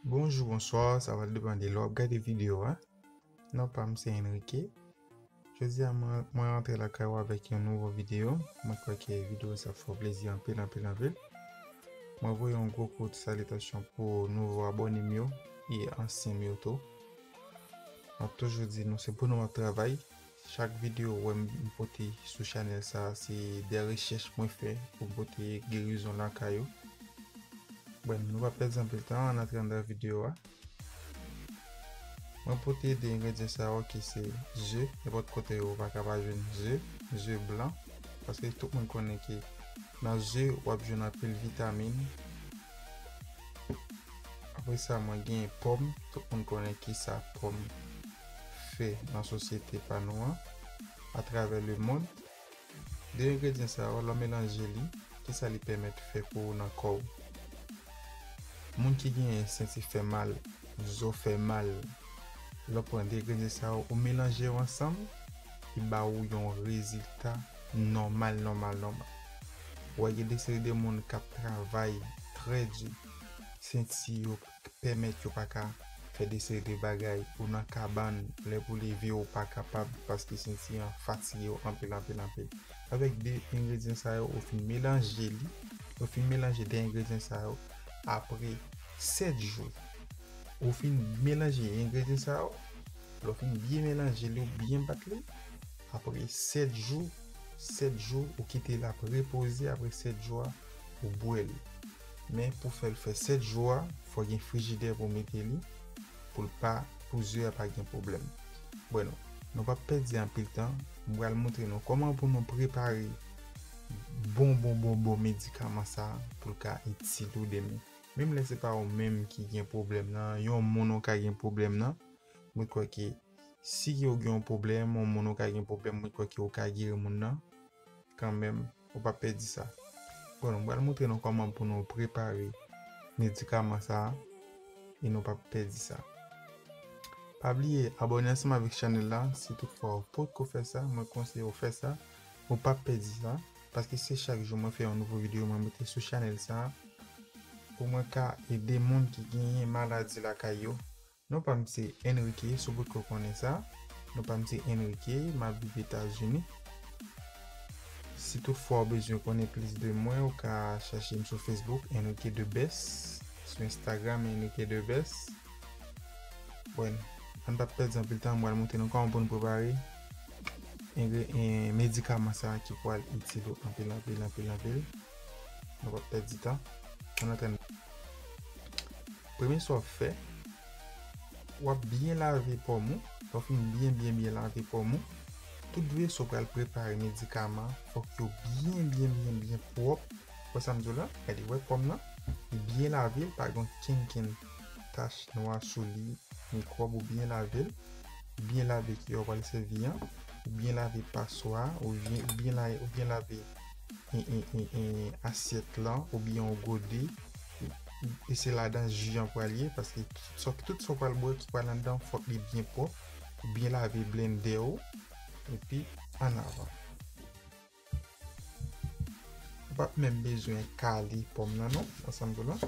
Bonjou, bonswa, sa va depan de lè w ap gade videyo a. Non pa m se Enrique. Jodi a mwen rantre lakay ou avèk yon nouvo videyo. Mwen kwè ke videyo sa ap fè w plezi anpil anpil anpil. Mwen voye yon gwo kout salitasyon pou nouvo abone m yo e ansyen m yo tou. M ap toujou di nou se pou nou ap travay Chak video wè m pote sou chanèl sa se de rechèch mwen fè pou m pote gerizon lakay ou. Bon nou pa pèdi anpil tan an antre andan video a. Mwen pote 2 engredyan sa yo ki se ze, nenpòt kote yo pa ka pa jwenn ze, ze blan paske tout moun konnen ke nan ze wap jwenn anpil vitamin. Apresa mwen gen pòm, tout moun konnen kisa pòm. fè nan sosyete pa nou an, atravè lemond, de engredyan sa yo lè w melanje li kisa li pèmèt fè pou ou nan kò w? Moun ki genyen senti fè mal, zo fè mal, lè w pran de engredyan sa yo ou melanje yo ansanm li ba ou yon rezilta nòmal nòmal nòmal. Wè gen de seri de moun kap travay trè di senti yo k pèmèt yo pa ka fè de seri de bagay ou nan kabann lè pou leve ou pa kapab paske senti an fatige w anpil anpil anpil avèk de engredyan sa yo ou fin melanje li ou fin melanje de engredyan sa yo apre 7 jou ou fin melanje engredyan sa yo lè w fin byen melanje li ou byen bat li apre 7 jou 7 jou ou kite l ap repoze apre 7 jou a ou bwè l. Men pou fèl fè 7 jou a fò gen frijidè pou mete li poul pa pou ze a pa gen pwoblèm. Bueno nou pap pèdi anpil tan m pral moutre nou kòman pou nou prepare bon bon bon bon medikaman sa poul ka itil ou demen. Menm lè se pa ou menm ki gen pwoblèm nan yon moun ou ka gen pwoblèm nan mwen kwè ke si ou gen yon pwoblèm yon moun ou ka gen pwoblèm mwen kwè ke ou ka geri moun nan. Kanmenm, ou pa pèdi sa. Bon, nou pral montre nou kòman pou nou prepare medikaman sa a e nou pap pèdi sa. Pa bliye abòne ansanm avèk chanèl la si tout fwa ou potko fè sa, mwen konseye ou fè sa, ou pap pèdi sa, paske se chak jou mwen fè yon nouvo videyo mwen mete sou chanèl sa a pou mwen ka ede moun ki genyen maladi lakay yo Non pam se Enrique sou bout ko konnen sa non pam se Enrique map viv etazini si tout fwa ou bezwen konnen plis de mwen ou ka chachem sou Facebook Enrique the best sou Instagram Enrique the best buen an pap pèdi anpil tan mwen montre nou koman pou nou prepare medikaman sa ki pwal itil ou anpil anpil anpil anpil nou pap pèdi tan an antre nan. Premye sa w ap fè, w ap byen lave pòm ou, lè w fin byen byen byen lave pòm ou, tout veso pral prepare medikaman an fòk yo byen byen byen byen pwòp, ou wè sa m di w la, gade ou wè pòm nan, li byen lave l pa gen kenkenn tach nwa sou li, mikwòb ou byen lave l, ou byen lave kiyè ou pral sèvi an, ou byen lave paswa a, ou byen lave asyèt lan oubyen yon gode. e se ladan ji an pral ye paske tout sa w pral bwè ki pral anndan an fòk li byen pwòp ou byen lave blendè ou epi an avan ou pap menm bezwen kale pòm nan non ansanm tou lan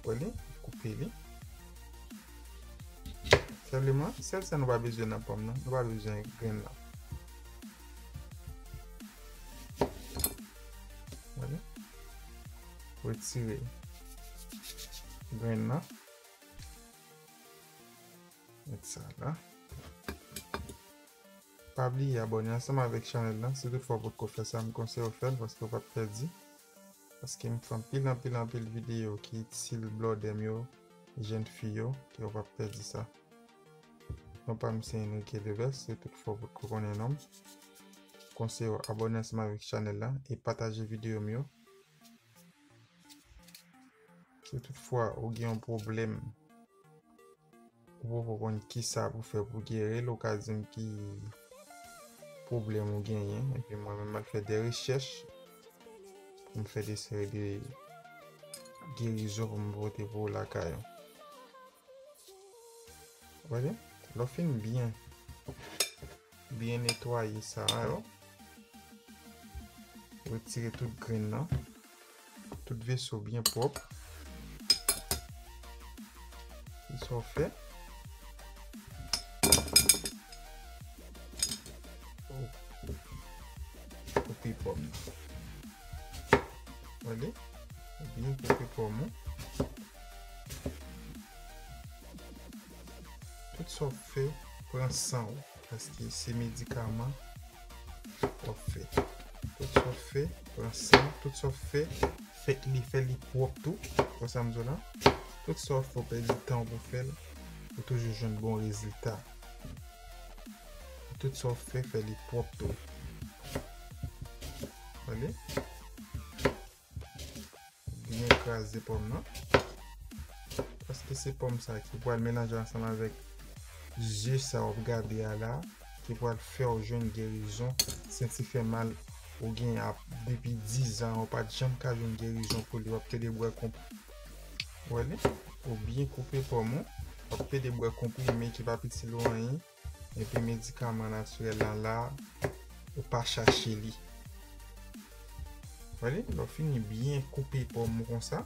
wè li ou koupe li senpleman sèl sa nou pa bezwen nan pòm nan nou pa bezwen grenn lan wè li Retire grenn nan. Met sa la. Pa bliye abone ansanm avèk chanèl lan. Si tout fwa ou potko fè sa, m konseye w fè l paske ou pap pèdi. Paske m fè anpil anpil anpil videyo ki itil blòdè m yo, jèn fi yo, ki ou pap pèdi sa. Non pa m se Enrique Deves, si tout fwa ou potko konnen non m. Konseye w abone ansanm avèk chanèl lan e pataje videyo m yo. Si tout fwa ou gen yon pwoblèm, ou pa pou konn ki sa pou fè pou gere l, ou ka di m ki pwoblèm ou genyen, epi mwen menm mwen fè de rechèch, pou m fè de seri de gerizon pou m pote pou ou lakay ou. Wè li? Lò fin byen. Byen netwaye sa yo. Retire tout grenn nan. Tout veso byen pwòp. Ki sa w fè? Koupe pòm nan. Wale? Byen koupe pòm ou. Tout sa wap fè pran sanw paske se medikaman wap fè. Tout sa wap fè pran sanw, tout sa wap fè fè li fè li pwòp tou, wè sam diw la? Tout sa wap fè ou pèdi tanw pou fèl ou toujou jwenn bon rezilta. Tout sa wap fè fè li pwòp tou. Tande? Byen kraze pòm nan. Paske se pòm sa ki pral melanje ansanm avèk ze sa wap gade a la ki pral fèw jwenn gerizon senti fè mal ou gen ap depi 10 ans ou pat janm ka jwenn gerizon pou li wap pede bwè konp wè li ou byen koupe pòm ou wap pede bwè konprime ki pap itil ou anyen. Epi medikaman natirèl la la ou pa chache li. Wale, lò fini byen koupe pòm ou konsa.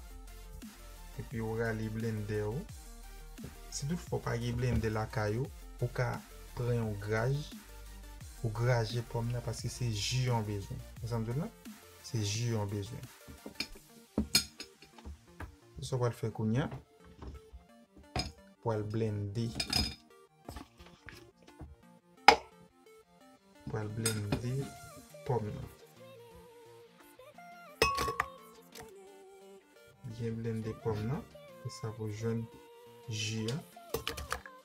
Epi ou rale blendè ou. Si tout fò pa gen blendè la kay ou, ou ka pran yon graj. Ou graje pòm nan paske se ji yon bezwen. Ou san mdou nan? Se ji yon bezwen. Sou sa wale fè kounyan. Wale blende. Pral blende pòm nan. Byen blende pòm nan. Pou sa pou jwenn ji an.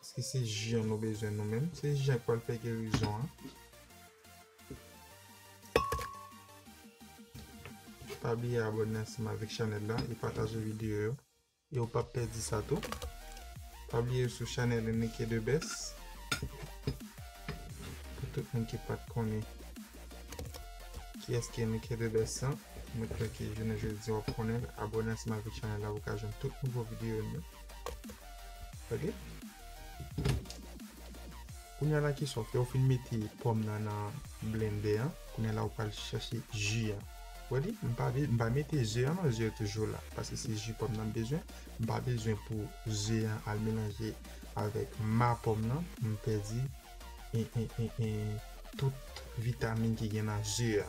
Eske se ji an nou bezwen nou menm. Se ji an ki pral fè gerizon an. Pa bliye abòne ansanm avèk chanèl la. E pataje videyo yo. E ou pap pèdi sa tou. Pa bliye ou sou chanèl Enrique the best. Pou tout moun ki pat konnen kiyès ki Enrique the best lan. Mwen kwè ke jounen jodi wap konnen l. Abòne ansanm avèk chanèl la pou ka jwenn tout nouvo videyo nou. Ok. Kounya la ki sòf. Lè ou fin mete pòm nan nan blendè an. Kounya la ou pral chache ji an. Body m pa m pa mete ze an non ze yo toujou la paske se ji pòm nan m bezwen m pa bezwen pou ze an al melanje avèk ma pòm nan m pèdi tout vitamin ki gen nan ze a.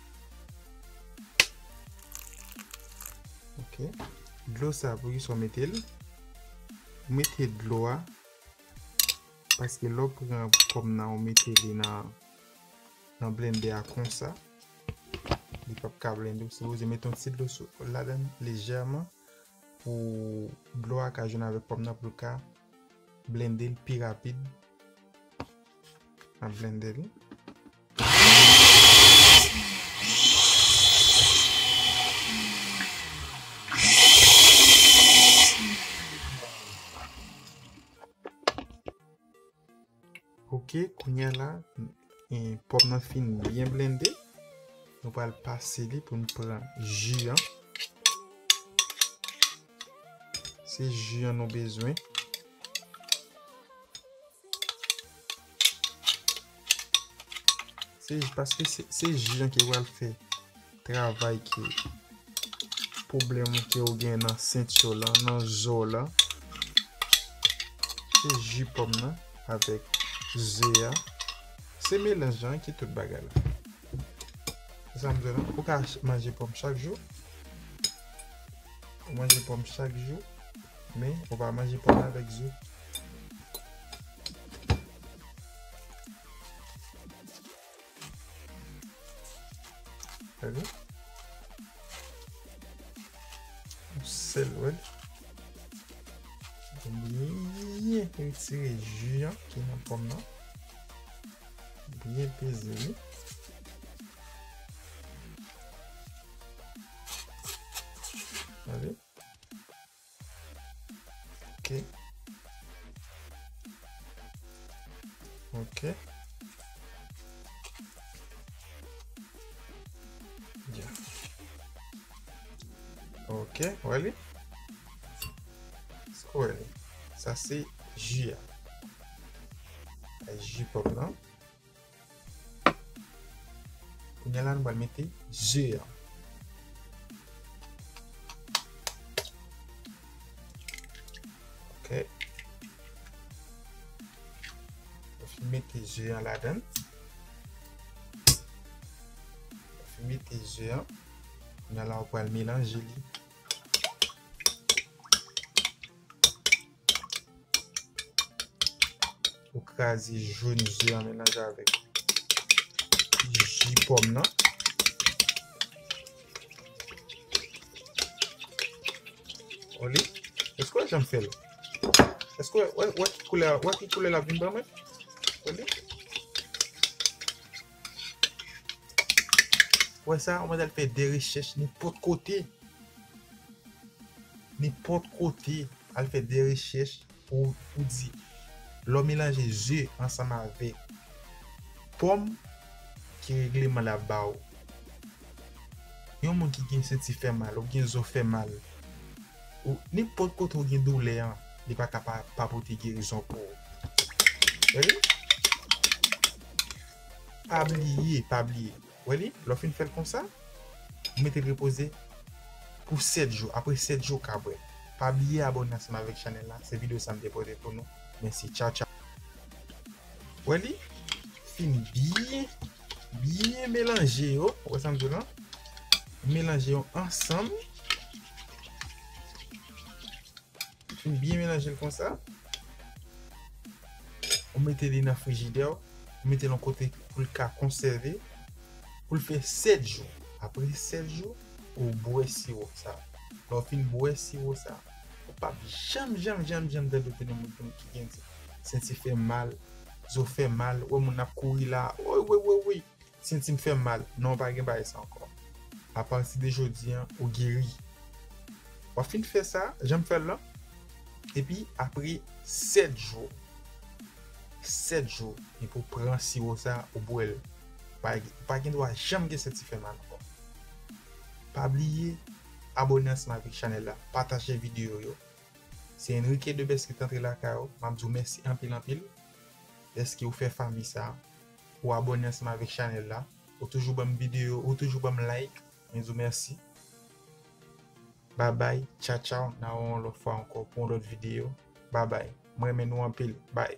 Ok, dlo sa pou ki sa w mete l? Ou mete dlo a paske lè w pran pòm nan ou mete li nan blennde a konsa li p ap ka blennde. Ou sipoze mete yon ti dlo ladann lejèman pou dlo a ka jwenn avèk pòm nan pou l ka blennde l pi rapid nan blennde li. Ok kounya la pòm nan fin byen blende nou pral pase li pou n pran ji an se ji an nou bezwen Paske se ji an ki pral fè travay ki pwoblèm ou ke ou gen nan senti w lan, nan zo w lan. Se ji pòm nan avèk ze a. Se melanj lan ki tout bagay la. Se sa m di w lan. Ou ka manje pòm chak jou. Ou manje pòm chak jou. Men, ou pa manje pòm avèk ze. sel wè byen retire ju an ki nan pòm nan byen peze li ale Ok. Ok. Yeah. Ok, wè li? Sko wè li? Sa se ji a. A ji pòp lan. Kounye la nou pral mete ze a. Ok. Fè mete ze a la dan. Fè mete ze a. Kounye la ou pral melanje li. Ou kraze joun ze an melanje avèk ji pòm nan. Oli, eske w wè jan m fè l? Eske w wè ki koulè l ap vin ban mwen? Oli. Wè sa, yon manzè l fè de rechèch nenpòt kote, nenpòt kote al fè de rechèch pou ou di lè w melanje ze ansanm avèk pòm ki regleman l ap ba ou. Yon moun ki gen senti fè mal ou byen zo fè mal ou nenpòt kote ou gen doulè an li pa ka pa pote gerizon pou ou. Pa bliye, pa bliye. Wè li? Lè w fin fè l konsa, ou mete l repoze pou 7 jou. Apre 7 jou ou ka bwè l. Pa bliye abòne ansanm avèk chanèl la. Se videyo sa m te pote pou nou. Mèsi. Tchaw tchaw. Wè li? Fin byen, byen melanje yo. Ou wè sa m di w lan? Melanje yo ansanm. Ou byen melanje l konsa. Ou mete li nan frijidè ou. Ou mete l yon kote pou l ka konsève. Pou l fè 7 jou. Apre 7 jou, ou bwè siwo sa. Lè ou fin bwè siwo sa, ou pap janm janm janm janm tande plen yon moun ki gen senti fè mal, zo fè mal, ou wè moun ap kouri la, woy woy woy woy. Sentim fèm mal. Non pa gen bagay sa ankò. A pati de jodi an ou geri. Wap fin fè sa janm fèl lan. Epi apre 7 jou. 7 jou epi ou pran siwo sa ou bwèl. Ou pa gen dwa janm gen senti fè mal ankò. Pa bliye abone ansanm avèk chanèl la, pataje videyo yo. Se Enrique Debest ki t antre lakay ou, map di w mèsi anpil anpil dèske ou fè fanmi sa. ou abòne ansanm avèk chanèl la, ou toujou banm video, ou toujou banm like, mwen di w mèsi. Babay, tcha tchaw, na wè w yon lòt fwa ankò pou yon lòt video. Babay, m renmen nou anpil, bay.